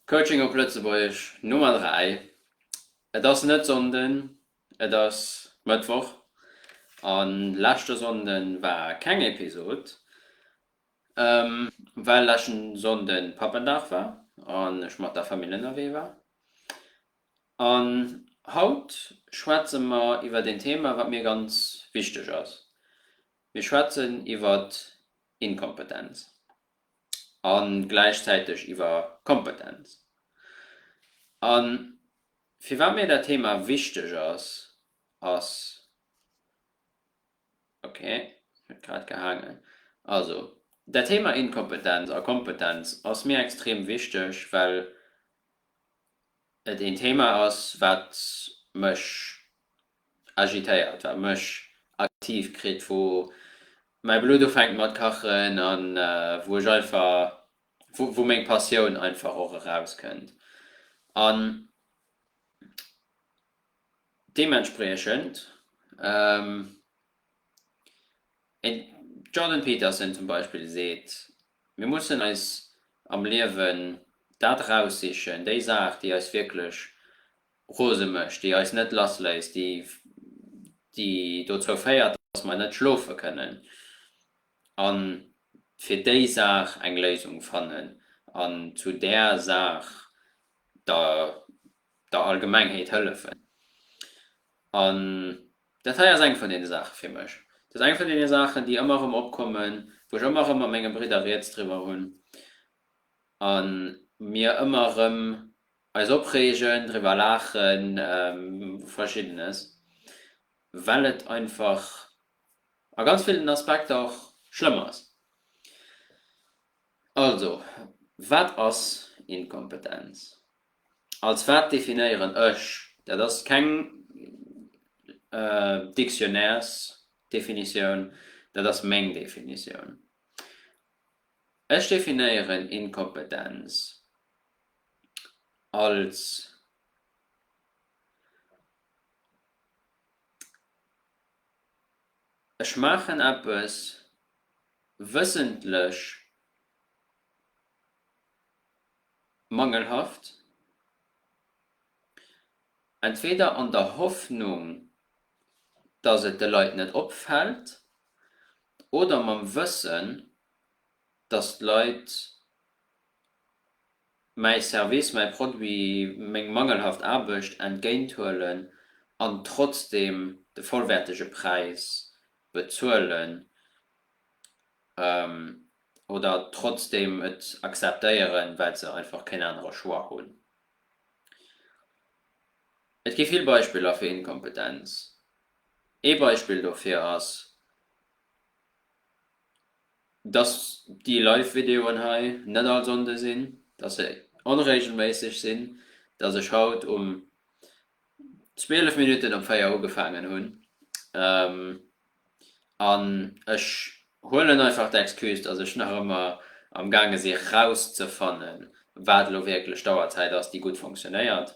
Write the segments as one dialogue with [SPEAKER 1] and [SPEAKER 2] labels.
[SPEAKER 1] Coaching op Lëtzebuergesch Nummer 3 Et ass net Sonnden, et ass Mëttwoch an leschte Sonnden war keng Episod well leschten Sonnden Pappendag war an ech mat der Famill ënnerwee war. An haut schwätze mer iwwert een Thema wat mir ganz wichteg ass, mir schwätzen iwwert Inkompetenz. a gläichzäiteg iwwer Kompetenz. A firwat mir dat Thema wichteg ass, ass, ok, huet grad gehaangen, also dat Thema Inkompetenz a Kompetenz ass mir extrem wichteg, well et een Thema ass, wat mech agitéiert a mech aktiv kritt, wou mäi Blutt ufänkt mat kachen an wou ech einfach, wou meng Passioun einfach och erauskënnt an deementspriechend een Jordan Peterson zum Beispill seet, mir mussen eis am Liewen dat raussichen, déi Saach déi eis wierklech rose mécht, déi eis net lass léisst, déi déi dozou féiert, datt mer net schlofe kënnen, a fir déi Saach eng Léisung fannen an zu där Saach der der Allgemengheet hëllefen. An dat hei ass eng vun deene Saache fir mech. Dat ass eng vun deene Saachen, déi ëmmer erëm opkommen, wou ech ëmmer erëm mat menge Bridder Rieds driwwer hunn a mir ëmmer erëm Eis opreegen, driwwer laachen, verschiddenes, well et einfach a ganz villen Aspekter och schlëmm ass. Also, wat ass Inkompetenz? Als wat definéieren ech? Dat ass keng Dictionnairesdefinitioun, dat ass meng Definitioun. Ech definéieren Inkompetenz als Ech maachen eppes wëssentlech mangelhaft, entweder an der Hoffnung, dass et de Leit net opfält, oder mam Wëssen, dass d'Leit mäi Service, mäi Produit, meng mangelhaft Aarbecht entgéint huelen an trotzdeem de vollwäertege Präis bezuelen oder trotzdeem et akzeptéieren, well se einfach keen anere Choix hunn. Et gi vill Beispiller fir Inkompetenz. Ee Beispill dofir ass dass déi live Videoen hei net all Sonnde sinn, dass se onregelméisseg sinn, dass ech haut um 12 Minutten op 4 ugefaangen hunn an ech huelen einfach d'Excuse, dass ech nach ëmmer am gaange si rauszefanne wat elo wierklech d'Auerzäit ass, déi gutt funktionéiert.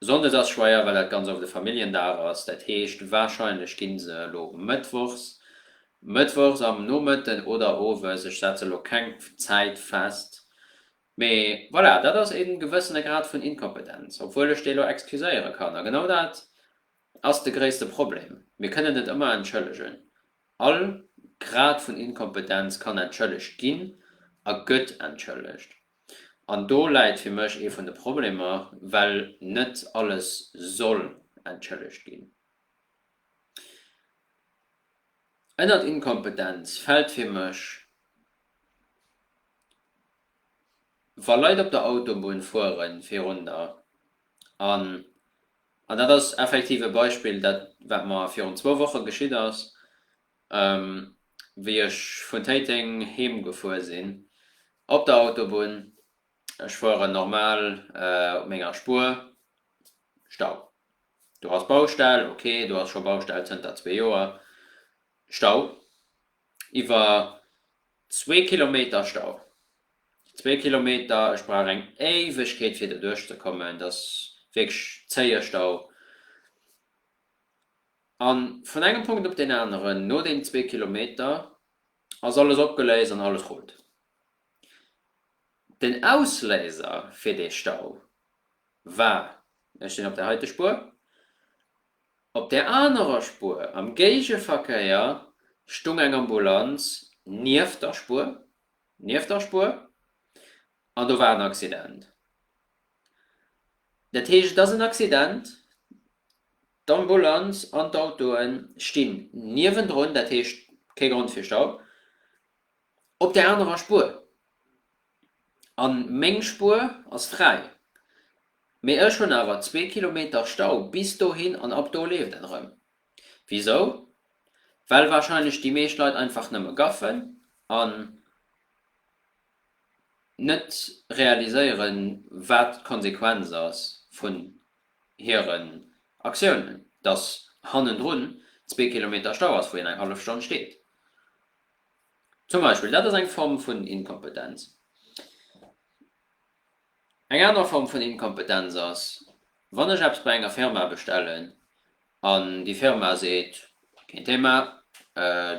[SPEAKER 1] Sonndes ass schweier well dat ganz oft e Familljendag ass, dat heescht wahrscheinlech ginn se elo Mëttwochs, Mëttwochs am Nomëtten oder Owes, ech setze elo keng Zäit fest, mee voilà, dat ass ee gewëssene Grad vun Inkompetenz, obwuel ech dee elo excuséiere kann. A genau dat ass de gréisste Problem, mir kënnen net ëmmer entschëllegen, all Grad vun Inkompetenz kann entschëllegt ginn a gëtt entschëllegt. An do läit fir mech ee vun de Problemer, well net alles soll entschëllegt ginn. Ënnert Inkompetenz fält fir mech, wa Leit op der Autobunn fuere virunner, an dat ass effektiv e Beispill, dat wat mer virun zwou Woche geschitt ass, Wéi ech vun Téiteng heem gefuer sinn op der Autobunn, ech fueren normal op menger Spuer, Stau. Do ass Baustell, ok, do ass scho Baustell zënter zwee Joer. Stau, iwwer zwee Kilometer Stau, zwee Kilometer, ech brauch eng Éiwegkeet fir doduerch ze kommen, dat ass wierklech zéie Stau. A vun engem Punkt op deen aneren, no deenen zwee Kilometer, ass alles opgeléist an alles rullt. Den Ausléiser fir dee Stau war, ech sinn op där heite Spuer, op där anerer Spuer am Géigeverkéier stung eng Ambulanz nieft der Spuer, nieft der Spuer, an do war en Accident. Dat heescht, et ass en Accident, d'Ambulanz an d'Autoe stinn niewendrun, dat heescht kee Grond fir Stau, op där anerer Spuer. A meng Spuer ass fräi, mee ech hunn awer zwee Kilometer Stau bis dohin an ab do leeft et erëm. Wisou? Well warscheinlech déi meescht Leit einfach nëmme gaffen an net realiséieren, wat d'Konsequenz ass vun hiren Aktiounen, dass hannendrun zwee Kilometer Stau ass, wou een eng hallef Stonn steet zum Beispill. Dat ass eng Form vun Inkompetenz. Eng aner Form vun Inkompetenz ass, wann ech eppes bei enger Firma bestellen an déi Firma seet, keen Thema,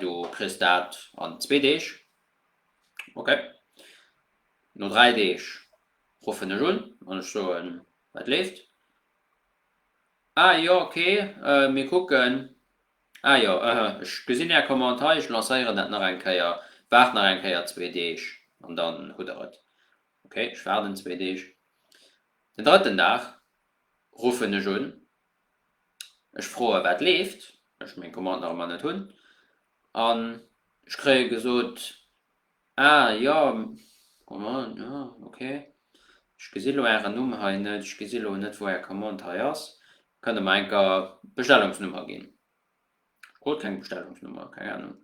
[SPEAKER 1] du kriss dat an zwee Deeg. Ok. No 3 Deeg ruffen ech un an ech soen, wat leeft? Ah jo ok, mir kucken. Ah jo, ëhë, ech gesinn Är Commande hei, ech lancéieren dat nach eng Kéier, waart nach eng Kéier zwee Deeg an dann hutt Der et. Ok, ech waarden zwee Deeg. Den drëtten Dag ruffen ech un Ech froe wat leeft, ech meng Commande nach ëmmer net hunn, an ech kréie gesot, ah jo, Commande, jo ok, ech gesi lo Ären Numm hei net, ech gesi lo net wou Är Commande hei ass, kënnt Der mer enker d'Bestellungsnummer ginn? Ech krut keng Bestellungsnummer, keng Ahnung.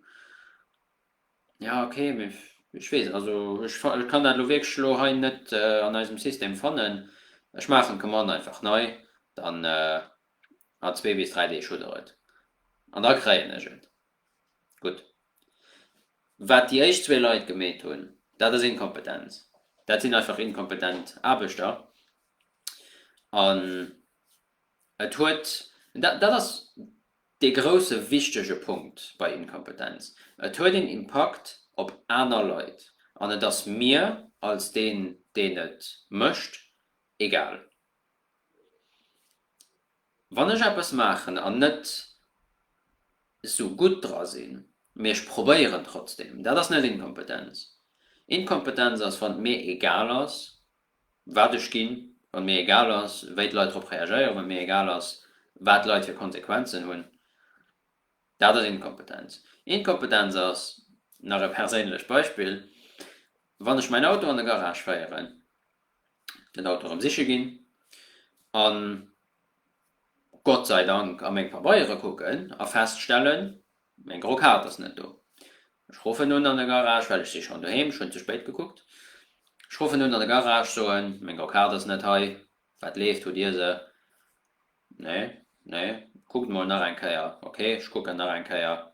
[SPEAKER 1] Ja ok, mee ech weess, also ech kann dat elo wierklech elo hei net an eisem System fannen. Ech maachen d'Commande einfach nei, dann a zwee bis dräi Deeg hutt der et an da kréien ech et. Gutt, wat déi éischt zwee Leit gemeet hunn, dat ass Inkompetenz, dat sinn einfach inkompetent Aarbechter an et huet, dat ass. Dee grousse wichtege Punkt bei Inkompetenz, et huet een Impakt op aner Leit an et ass mir als deen, deen et mécht, egal. Wann ech eppes maachen an net sou gutt dra sinn, mee ech probéieren trotzdeem, dat ass net Inkompetenz. Inkompetenz ass, wann et mir egal ass, wat ech ginn, wann mir egal ass, wéi d'Leit drop reagéieren, wann mir egal ass, wat d'Leit fir Konsequenzen hunn. Dat ass Inkompetenz. Inkompetenz ass, nach e perséinlecht Beispill, wann ech mäin Auto an de Garage féieren, den Auto erëm siche ginn a Gott sei Dank a meng Pabeiere kucken a feststellen, Meng gro Kaart ass net do. Ech ruffen un an de Garage, well ech si schonn doheem, ech hunn ze spéit gekuckt. Ech ruffen un an de Garage, soen, meng gro Kaart ass net hei, wat leeft, hutt Dir se? Nee, nee. Kuckt emol nach eng Kéier. Ok, ech kucken nach eng Kéier.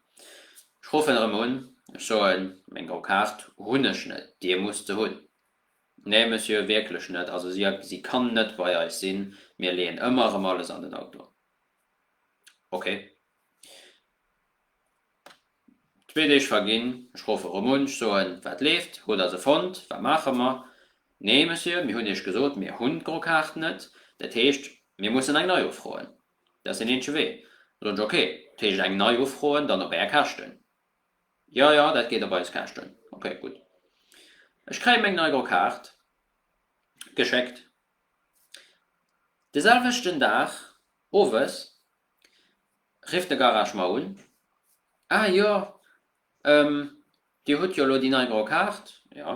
[SPEAKER 1] Ech ruffen erëm un, ech soen, meng gro Kaart hunn ech net, Dir musst se hunn. Nee, Monsieur, wierklech net, also si, si kann net bei eis sinn, mir leeën ëmmer erëm alles an den Auto. Ok. Zwee Deeg verginn, ech roffe Romunsch, soen, Wat leeft? Hutt der se fonnt? Wat maache mer? Nee, Monsieur, mir hunn Iech gesot, mir hunn d'gro Kaart net. Dat heescht, mir mussen eng nei ufroen. Dat ass deen eenzege Wee. Da soen ech, Ok, dat heescht eng nei ufroen, dann op Är Käschten? Jo, jo, dat geet op eis Käschten. Ok, gutt. Ech kréie meng nei gro Kaart geschéckt. De selwechten Dag owes Rifft de Garage mer un, Ah jo, ähm, Dir hutt jo elo déi nei gro Kaart? Jo.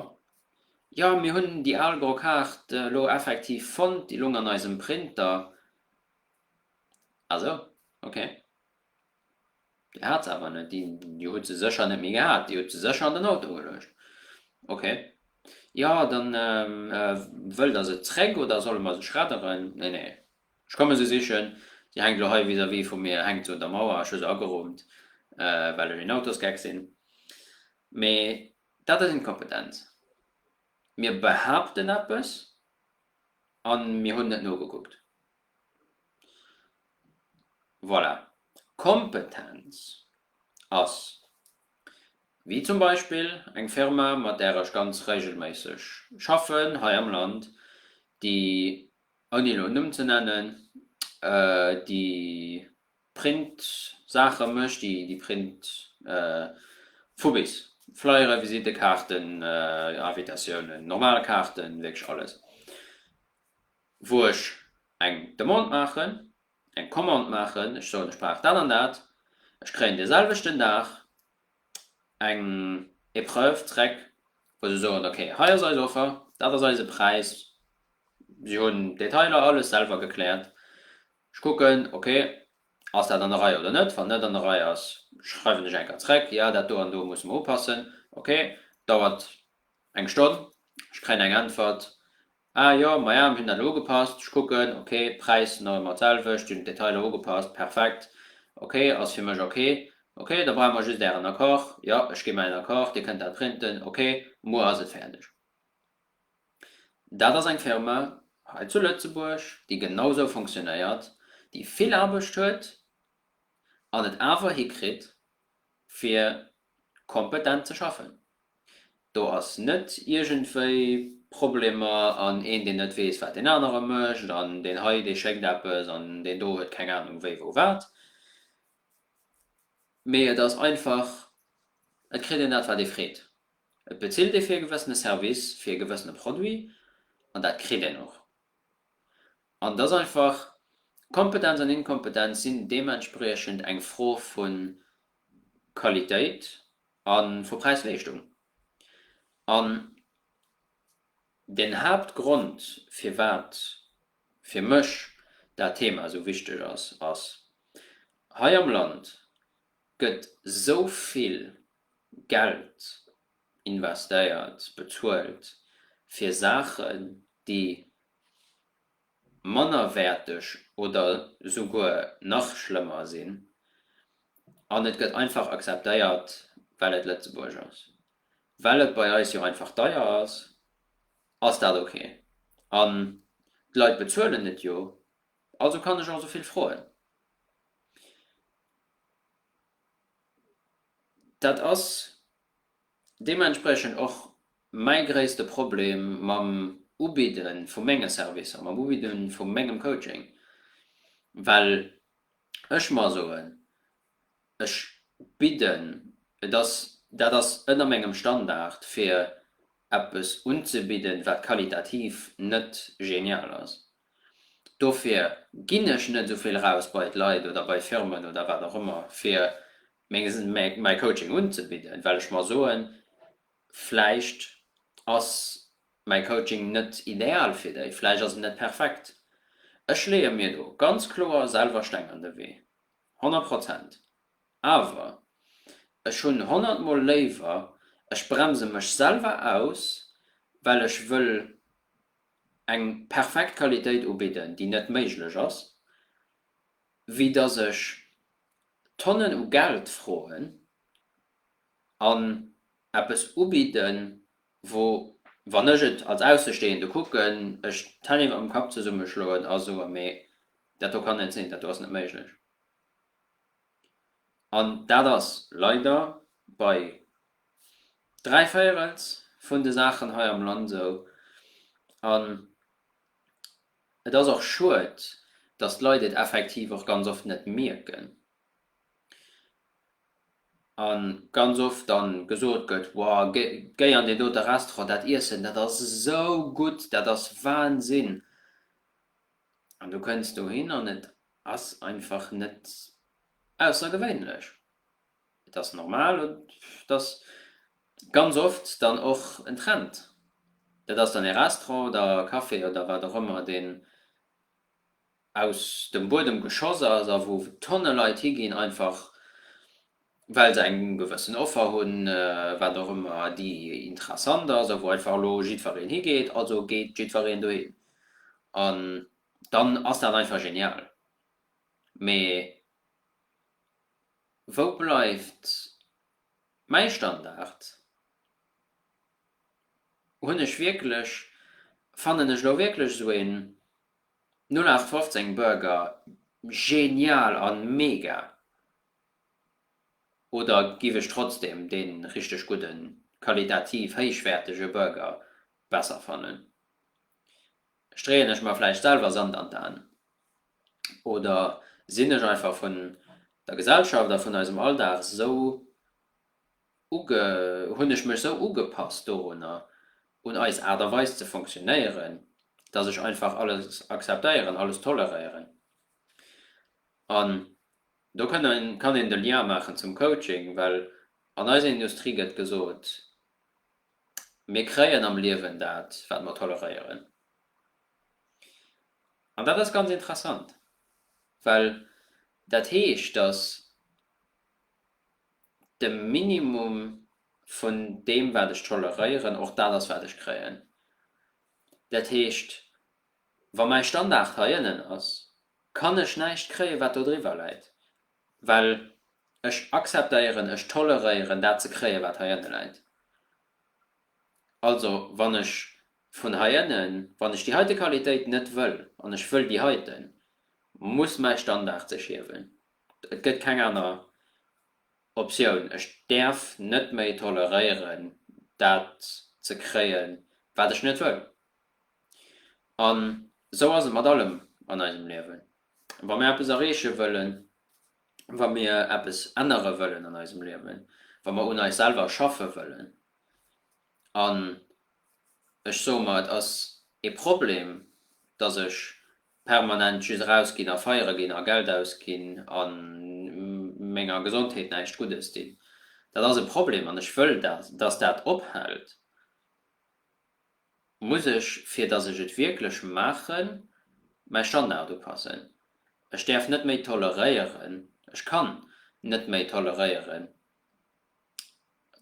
[SPEAKER 1] Jo, mir hunn déi al gro Kaart elo effektiv fonnt, déi lung an eisem Printer. Ah sou, ok. Dir hat se awer net, Dir hutt se sécher net méi gehat, Dir hutt se sécher an den Auto geluecht. Ok. Jo, dann, ähm, wëllt Der se zréck oder solle mer se schredderen? Nee, nee, Ech komme se sichen. Déi hänkt elo hei vis-à-vis vu mir, hänkt se un der Mauer. Ech hu se ageroomt, well ech een Autosgeck sinn. Mee dat ass inkompetent. Mir behaapten eppes a mir hunn net nogekuckt. Voilà. Kompetenz ass, wéi zum Beispill eng Firma, mat där ech ganz regelméisseg schaffen hei am Land, déi ouni elo en Numm ze nennen, déi Print-Saache mécht, déi Print vu bis, Flyere, Visittekaarten, Invitatiounen, normal Kaarten, wierklech alles, wou ech eng Demande maachen, eng Commande maachen, ech soen, ech brauch dat an dat, ech kréien de selwechten Dag. eng Epreuve zréck, wou se soen, ok, hei ass eis Offer, dat ass eise Präis, si hunn d'Detailer alles selwer gekläert, ech kucken, ok, ass dat an der Rei oder net, wann net an der Rei ass, schreiwen ech enker zréck, jo, dat do an do musse mer upassen, ok, dauert eng Stonn, ech kréien eng Äntwert, Ah jo, maja, mir hunn dat elo ugepasst, ech kucken, ok, Präis nach ëmmer d'selwecht, hunn d'Detailer ugepasst, perfekt, ok, ass fir mech ok, ok, da brauche mer just Ären Accord, jo, ech gi mäin Accord, Dir kënnt dat printen, ok, muer ass et fäerdeg. Dat ass eng Firma hei zu Lëtzebuerg, déi genau sou funktionéiert, déi vill Aarbecht huet an et awer hikritt, fir kompetent ze schaffen. Do ass net iergendwéi Problemer an een, deen net weess, wat deen anere mécht an deen hei, dee schéckt eppes an deen do huet keng Anung wéi wou wat, mee et ass einfach, et kritt een dat, wat ee freet. Et bezilt ee fir e gewëssene Service, fir e gewëssene Produit an dat kritt een och. An et ass einfach, Kompetenz an Inkompetenz sinn deementspriechend eng Fro vun, Qualitéit a vu Präis-Leeschtung. An den Haaptgrond, firwat fir mech dat Thema esou wichteg ass, ass, Hei am Land gëtt esou vill Geld investéiert, bezuelt fir Saachen, déi mannerwäerteg oder souguer nach schlëmmer sinn an et gëtt einfach akzeptéiert, well et Lëtzebuerg ass. Well et bei eis jo einfach deier ass, ass dat ok an d'Leit bezuelen et jo, also kann ech och esou vill froen. Dat ass. Deementspriechend och mäi gréisste Problem mam Ubidde vu menge Servicer, mam Ubidde vu mengem Coaching, well ech mer soen, ech bidden, et ass, dat ass ënner mengem Standard, fir eppes unzebidden, wat qualitativ net genial ass. Dofir ginn ech net esou vill eraus bei d'Leit oder bei Firmen oder wat och ëmmer, fir Menges en mäi Coaching unzebidden, well ech mer soen, vläicht ass mäi Coaching net ideal fir déi, vläicht ass en net perfekt. Ech leeë mir do ganz kloer selwer Steng an de Wee, honnert Prozent. Awer ech hunn honnert mol léiwer, ech bremse mech selwer aus, well ech wëll eng perfekt Qualitéit ubidden, déi net méiglech ass, wéi dass ech Tonnen u Geld froen an eppes ubidden, wou, wann ech et als Aussestehende kucken, ech d'Hänn iwwer dem Kapp zesummeschloen a soe mee dat do kann net sinn, dat do ass net méiglech. An dat ass leider bei dräi Véierels vun de Saachen hei am Land esou. An Et ass och schued, datt d'Leit et effektiv och ganz oft net mierken a ganz oft dann gesot gëtt, Wow, géi an deen dote Restaurant, dat Iessen, dat ass esou gutt, dat ass Wahnsinn! An du kënns dohin an et ass einfach net aussergewéinlech. Et ass normal, dass ganz oft dann och en Trend, dat ass dann ee Restaurant oder e Café oder wat och ëmmer, deen aus dem Buedem geschoss ass a wou Tonne Leit higinn, einfach well se eng gewëssen Offer hunn, wat och ëmmer, déi interessant ass a wou einfach elo jiddwereen higeet. Also geet jiddwereen dohin an dann ass dat einfach genial. Mee Wou bleift mäi Standard? Hunn ech wierklech, fannen ech elo wierklech esou een 0815 Burger genial an mega oder giff ech trotzdem deen richteg gudden, qualitativ héichwäertege Burger besser fannen? Streeën ech mer vläicht selwer Sand an d'Aen? Oder sinn ech einfach vun der Gesellschaft a vun eisem Alldag esou uge, hunn ech mech esou ugepasst dorunner, un eis Aart a Weis ze funktionéieren, dass ech einfach alles akzeptéieren, alles toleréieren? An do kënn een, kann een de Lien maachen zum Coaching, well an eiser Industrie gëtt gesot, Mir kréien am Liewen dat, wat mer toleréieren. An dat ass ganz interessant, well dat heescht, datt de Minimum vun deem, wat ech toleréieren, och dat ass, wat ech kréien. Dat heescht, wa mäi Standard hei ënnen ass, kann ech näischt kréien, wat do driwwer läit. Well ech akzeptéieren, ech toleréieren dat ze kréien, wat heiënne läit. Also, wann ech vun heiënnen, wann ech déi heite Qualitéit net wëll an ech wëll déi heite, muss mäi Standard sech hiewen. Et gëtt keng aner Optioun. Ech däerf net méi toleréieren, dat ze kréien, wat ech net wëll. An esou ass et mat allem an eisem Liewen. Wa mir eppes erreeche wëllen, wa mir eppes ännere wëllen an eisem Liewen, wa mir un eis selwer schaffe wëllen, an ech soe mer, et ass ee Problem, datt ech permanent just erausginn a feiere ginn a Geld ausginn a menger Gesondheet näischt Guddes dinn, dat ass e Problem an ech wëll, datt dat ophält. Muss ech, fir datt ech et wierklech maachen, mäi Standard upassen? Ech däerf net méi toleréieren, ech kann net méi toleréieren,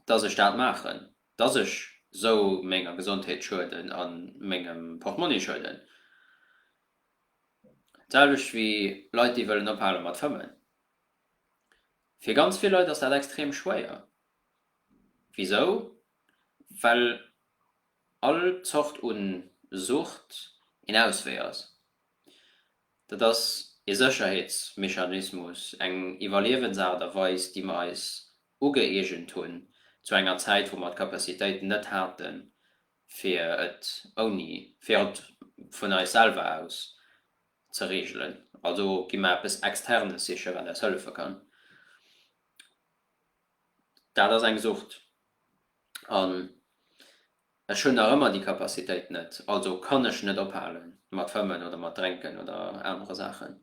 [SPEAKER 1] datt ech dat maachen, datt ech esou menger Gesondheet schueden a mengem Portmonni schueden? D'selwecht wéi Leit, déi wëllen ophale mat fëmmen. Fir ganz vill Leit ass dat extrem schwéier, Wisou? Well all Zort un Sucht een Auswee ass. Dat ass ee Sécherheetsmechanismus, eng Iwwerliewensaart a Weis, déi mer eis ugëeegent hunn zu enger Zäit, wou mer d'Capacitéit net haten, fir et ouni, fir et vun eis selwer aus ze reegelen. Also gi mer eppes Externes sichen, wat eis hëllefe kann. dat ass eng Sucht. An ech hunn nach ëmmer déi Capacitéit net, also kann ech net ophale mat fëmmen oder mat drénken oder anere Saachen.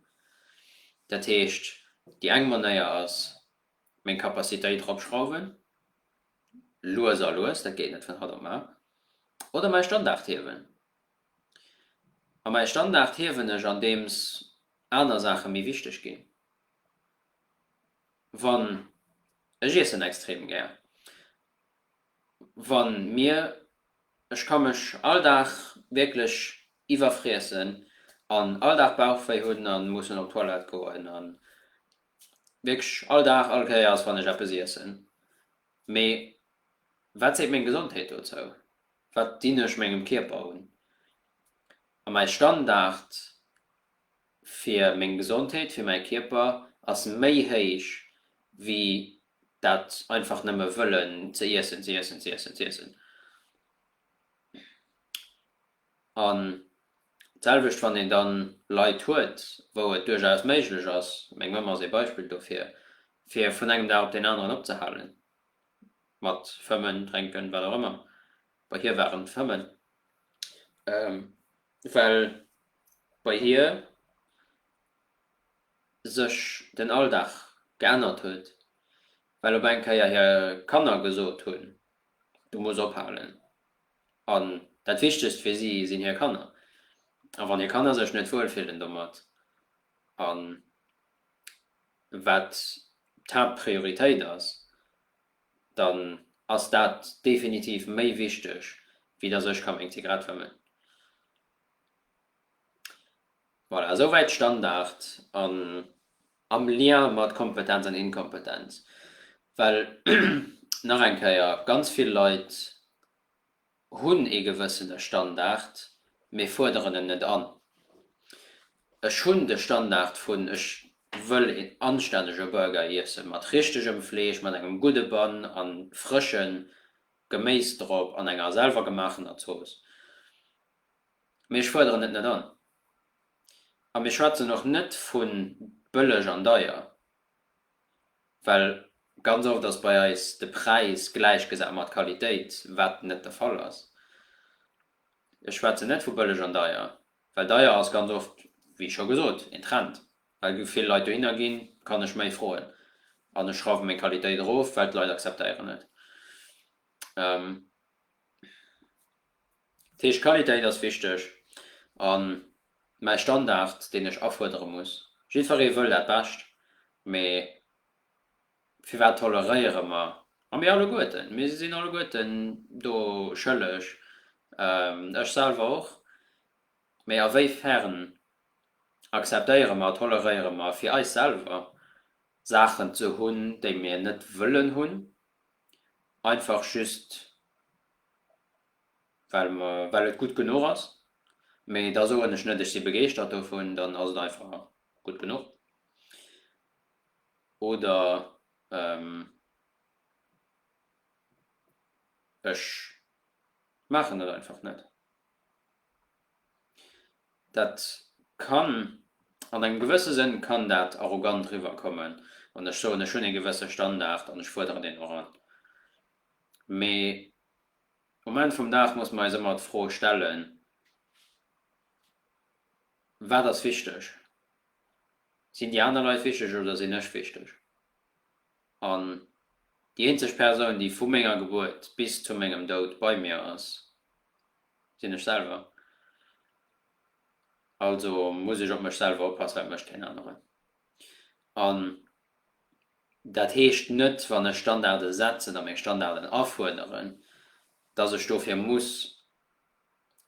[SPEAKER 1] Dat heescht, déi eng Manéier ass, meng Capacitéit eropschrauwen, lues a lues, dat geet net vun haut op mar, oder mäi Standard hiewen. A mäi Standard hiewen ech, andeems aner Saache méi wichteg ginn. Wann, ech iessen extrem gär. Wann mir, ech ka mech all Dag wierklech iwwerfriessen an all Dag Bauchwéi hunn an mussen op d'Toilette goen an wierklech all Dag, all Kéier ass wann ech eppes iessen. Mee wat seet meng Gesondheet dozou? Wat dinn ech mengem Kierper un? A mäi Standard? fir meng Gesondheet, fir mäi Kierper ass méi héich wéi dat einfach nëmme wëllen ze iessen, ze iessen, ze iessen, ze iessen. An d'selwecht wann een dann Leit huet, wou et duerchaus méiglech ass, meng Mamm ass ee Beispill dofir, fir vun engem Dag op deen aneren opzehalen mat fëmmen, drénken, wat och ëmmer, bei hir waren et fëmmen, Well bei hir sech den Alldag geännert huet, well op eng Kéier hir Kanner gesot hunn, du muss ophalen. An dat Wichtegst fir si sinn hir Kanner. A wann hir Kanner sech net wuel fillen domat, a wat d'Haaptprioritéit ass, dann ass dat definitiv méi wichteg, wéi datt ech ka meng Zigarett fëmmen. Voilà, esouwäit Standard an am Lien mat Kompetenz an Inkompetenz. Well, nach eng Kéier, ganz vill Leit hunn ee gewëssene Standard, mee fuerderen en net an. Ech hunn de Standard vun, ech wëll een anstännege Burger iessen, mat richtegem Fleesch, mat engem gudde Bann a frësche Geméis drop an enger selwer gemaachener Zooss, mee ech fuerderen et net an. A mir schwätzen och net vu bëlleg an deier. Well ganz oft ass bei eis de Präis gläichgesat mat Qualitéit, wat net de Fall ass. Ech schwätzen net vu bëlleg an deier, well deier ass ganz oft, wéi scho gesot, een Trend. Well vill Leit dohinner ginn, kann ech méi froen an ech schrauwe meng Qualitéit erof, well d'Leit acceptéieren et. Dat heescht, d'Qualitéit ass wichteg a mäi Standard, deen ech afuerdere muss. Jiddweree wëll dat Bescht, mee firwat toleréiere mer, a mir alleguerten, mir sinn alleguerten do schëlleg, ech selwer och, mee a wéi fern akzeptéiere mer, toleréiere mer fir eis selwer Saachen ze hunn, déi mir net wëllen hunn? einfach just well mer, well et gutt genuch ass, mee da soen ech net ech si begeeschtert dovun, dann ass et einfach gutt genuch oder ech maachen et einfach net. Dat kann, an engem gewësse Sënn kann dat arrogant riwwerkommen, wann ech soen, ech hunn ee gewësse Standard an ech fuerderen deen och an. Mee um Enn vum Dag muss mer eis ëmmer d'Fro stellen, Wat ass wichteg? Sinn déi aner Leit wichteg oder sinn ech wichteg? An déi eenzeg Persoun, déi vu menger Gebuert bis zu mengem Doud bei mir ass, sinn ech selwer. Also muss ech op mech selwer oppassen, wat mécht keen aneren. An dat heescht net, wann ech Standarde setzen a meng Standarden afuerderen, dass ech dofir muss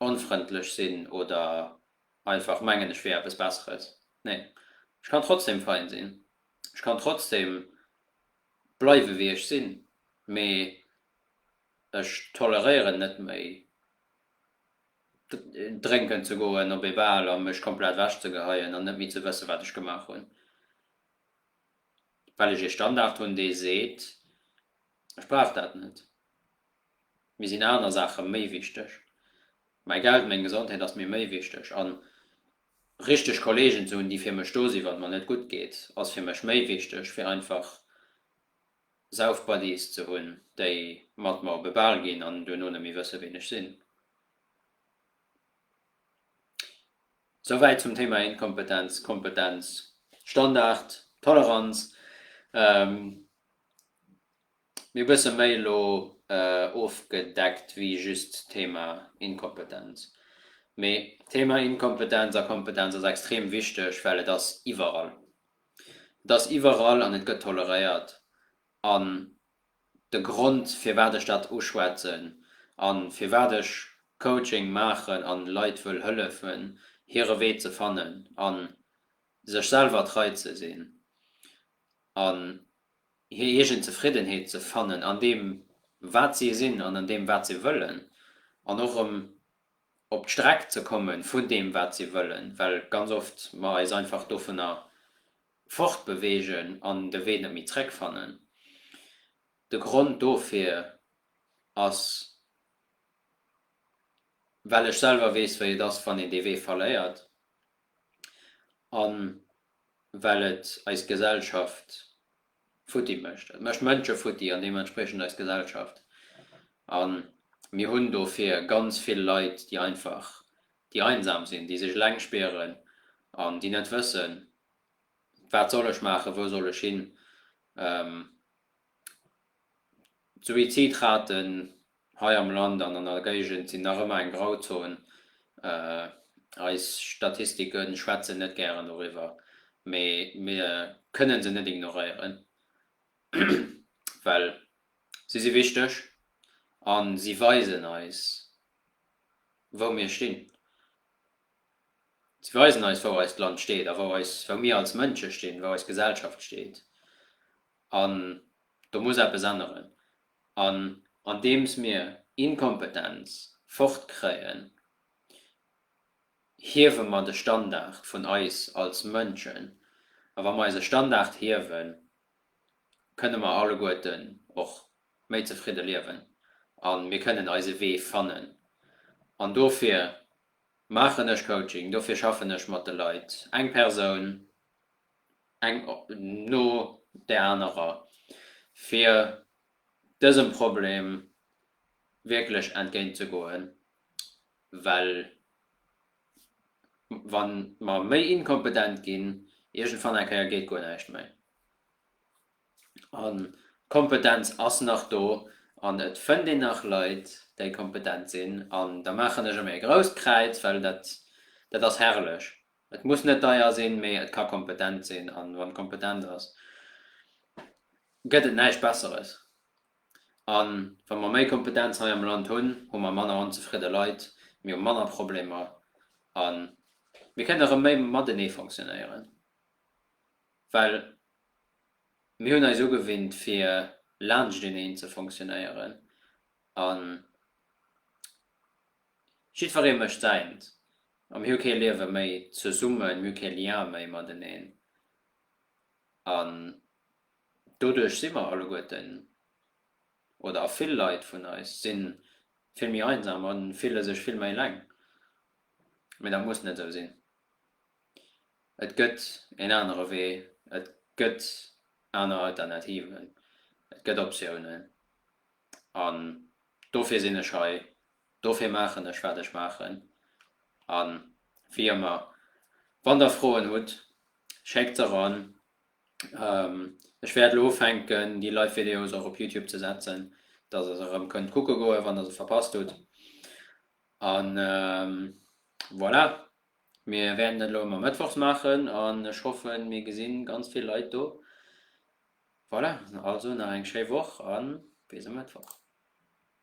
[SPEAKER 1] onfrëndlech sinn oder einfach mengen, ech wier eppes Besseres. Nee, ech kann trotzdem fein sinn. Ech kann trotzdem bleiwe wéi ech sinn, mee ech toleréieren net méi drénken ze goen op ee Bal a mech komplett ewech ze geheien an net méi ze wëssen, wat ech gemaach hunn, well ech ee Standard hunn, dee seet, ech brauch dat net, mir sinn aner Saache méi wichteg, mäi Geld, meng Gesondheet ass mir méi wichteg. richteg Kolleegen ze hunn, déi fir mech do sinn, wann et mer net gutt geet, ass fir mech méi wichteg, wéi einfach Sauf-Buddies ze hunn, déi mat mer op e Bal ginn an duerno net méi wëssen, ween ech sinn. Souwäit zum Thema Inkompetenz, Kompetenz, Standard, Toleranz. Mir e bësse méi elo ofgedeckt wéi just d'Thema Inkompetenz. Mee d'Thema Inkompetenz a Kompetenz ass extrem wichteg, well et ass iwwerall. Et ass iwwerall an et gëtt toleréiert. An de Grond, firwat ech dat uschwätzen a firwat ech Coaching maachen a Leit wëll hëllefen, hire Wee ze fannen a sech selwer trei ze sinn, an hir eegen Zefriddenheet ze fannen an deem wat si sinn an an deem wat si wëllen an och erëm op d'Streck ze komme vun deem wat si wëllen, well ganz oft mer eis einfach dovunner fortbeweegen an de Wee net méi zréck fannen. De Grond dofir ass well ech selwer weess wéi et ass wann een dee Wee verléiert an well et eis Gesellschaft futti mécht. Et mécht Mënsche futti an deementspriechend eis Gesellschaft. A mir hunn dofir ganz vill Leit, déi einfach, déi einsam sinn, déi sech eleng spieren an déi net wëssen, Wat soll ech maachen? Wou soll ech hin? D'Suizidraten hei am Land an an der Géigend sinn nach ëmmer eng Grauzon. Eis Statistike schwätzen net gären doriwwer, mee mir kënne se net ignoréieren, well si si wichteg a si weisen eis, wou mir stinn. Si weisen eis, wou eist Land steet a wou mir als Mënsche stinn, wou eis Gesellschaft steet. An do muss eppes änneren. An andeems mir Inkompetenz fortkréien, hiewe mer de Standard vun eis als Mënschen. A wa mer eise Standard hiewen, kënne mer alleguerten och méi zefridde liewen a mir kënnen eise Wee fannen. An dofir maachen ech Coaching, dofir schaffen ech mat de Leit, eng Persoun eng no där anerer, fir dësem Problem wierklech entgéint ze goen, well wa mer méi inkompetent ginn, iergendwann eng Kéier geet guer näischt méi. An d'Kompetenz ass nach do an et fënnt een nach Leit, déi kompetent sinn. An da maachen ech emol e grousst Kräiz, well dat ass herrlech. Et muss net deier sinn, mee et ka kompetent sinn. An wann et kompetent ass, gëtt et näischt Besseres. An wa mer méi Kompetenz hei am Land hunn, hu mer manner onzefridde Leit, mir hu manner Problemer a mir kënnen erëm méi matenee fonctionnéieren. Well mir hunn eis ugewinnt, fir laanschteneen ze fonctionnéieren. Jiddweree mécht säint a mir hu kee Liewe méi zesummen, mir hu kee Lien méi mateneen an doduerch si mer alleguerten oder a vill Leit vun eis si vill méi einsam a fille sech vill méi eleng. Mee dat muss net esou sinn. Et gëtt een anere Wee, et gëtt aner Alternativen, et gëtt Optiounen. An dofir sinn ech hei, dofir maachen ech wat ech maachen. A wéi ëmmer, wann der Froen hutt, schéckt se eran. Ech wäert elo ufänken déi Live Videos och op Youtube ze setzen, dass der se erëm kënnt kucke goen, wann der se verpasst hutt. A voilà, mir wäerten dat elo ëmmer mëttwochs maachen an ech hoffen mir gesinn ganz vill Leit do. Voilà, also nach eng schéi Woch an bis e Mëttwoch.